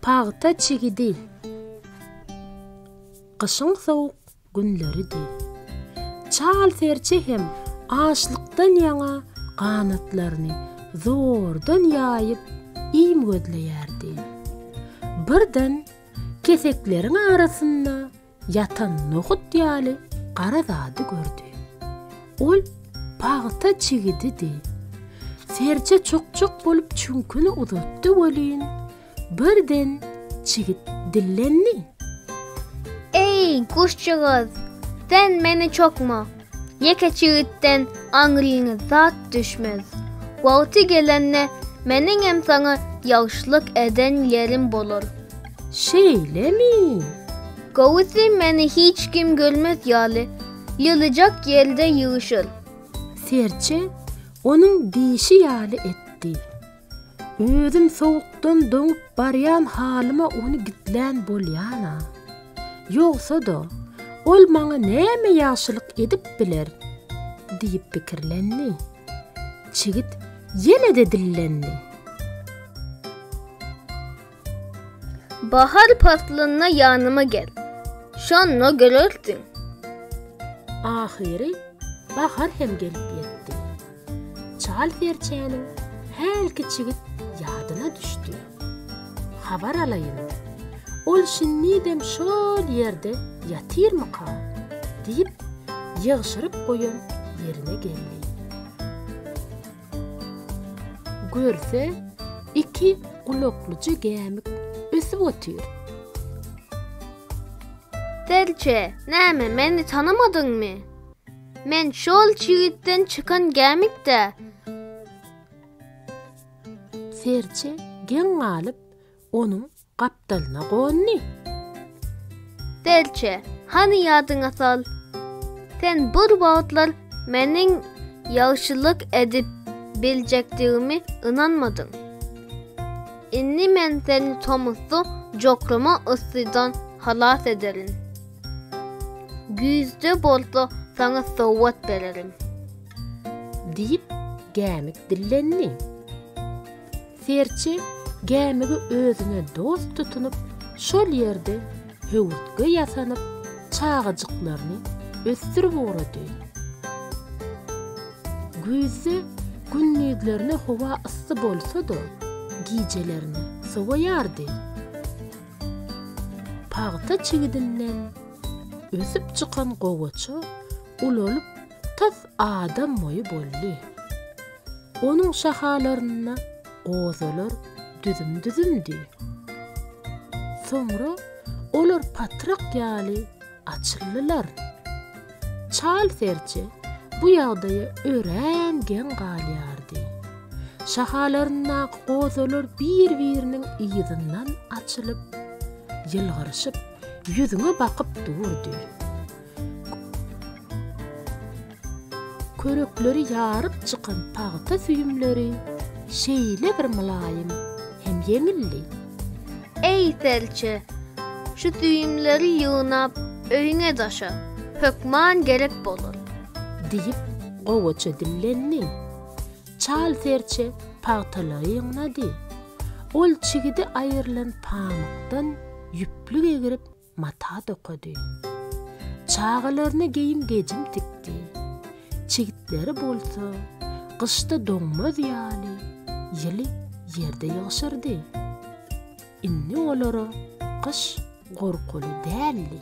Pagta çigidi. Gyşyň sowuk günleridi. Çal serçe hem açlykdan ýaňa ganatlaryny zordan ýaýyp, iým gözleýärdi. Birden kesekleriň arasynda ýatan nohut ýaly gara zady gördi. Ol pagta çigididi. Serje çok-çok bolup çüňküni uzatdy welin, birden çigit dillendi. Eý, guşjygyz, sen meni çokma! Ýeke jigitden aňryňa zat düşmez. Wagty gelende meniňem saňa ýagşylyk eden ýerim bolar. Şeýlemi? Gowusy meni hiç kim görmez ýaly, ýylyjak ýerde ýygyşyr. Serçe onuň diýşi ýaly etdi. Özüm sowukdan doňup barýan halyma ony gizlän bolýan-a. Ýogsa-da, ol maňa näme ýagşylyk edip biler? diýip pikirlendi. Çigit ýene-de dillendi. Bahar paslynda ýanyma gel, şonda görersiň. Ahyry bahar hem gelip ýetdi. Çal serçäniň hälki çigit ýadyna düşdi. Habar alaýyn, ol şindidem şol ýerde ýatyrmyka? diýip, ýygşyryp goýan ýerine geldi. Görse, iki gulaklyja gämik ösüp otyr. Serçe, näme, meni tanamadyňmy? Men şol çigitden çykan gämik-dä. Serçe geň galyp, onuň Gapdalyna gondy. Delçe, hany ýadyňa sal. Sen bir wagtlar meniň ýagşylyk edip biljekdigimi ynanmadyň. Indi men seni tomusda jokrama yssydan halas ederin. Güýzde bolsa saňa sowgat bererin. Diýip, Gämik dillendi. Serçe gämigi özüne dost tutunyp, şol ýerde höwürtge ýasanyp, çagajyklaryny ösdürip ugrady. Güýzde gündizlerine howa yssy bolsa-da, gijelerine sowaýardy. Pagta çigidinden ösüp çykan gowaça ulalyp, tas adam boýy boldy. Onuň şahalarynda gozalar düzüm-düzümdi. Soňra olar patrak ýaly açyldylar. Çal serçe bu ýagdaýa örän geň galýardy. Şahalaryndaky gozalar bir-biriniň yzyndan açylyp, ýylgyryşyp, ýüzüňe bakyp durdy. Körekleri ýaryp çykan pagta süýümleri şeýle bir mylaýym hem ýeňildi. Eý, serçe, şu süýümleri ýygnap, öýüňe daşa, hökman gerek bolar. Diýip, gowaça dillendi. Çal serçe pagtalary ýygnady. Ol çigidi aýrylan pamykdan ýüplük egrip, mata dokady. Çagalaryna geýim-gejim tikdi. Çigitleri bolsa gyşda doňmaz ýaly ýyly ýerde ýygşyrdy. Indi olara gyş gorkuly däldi.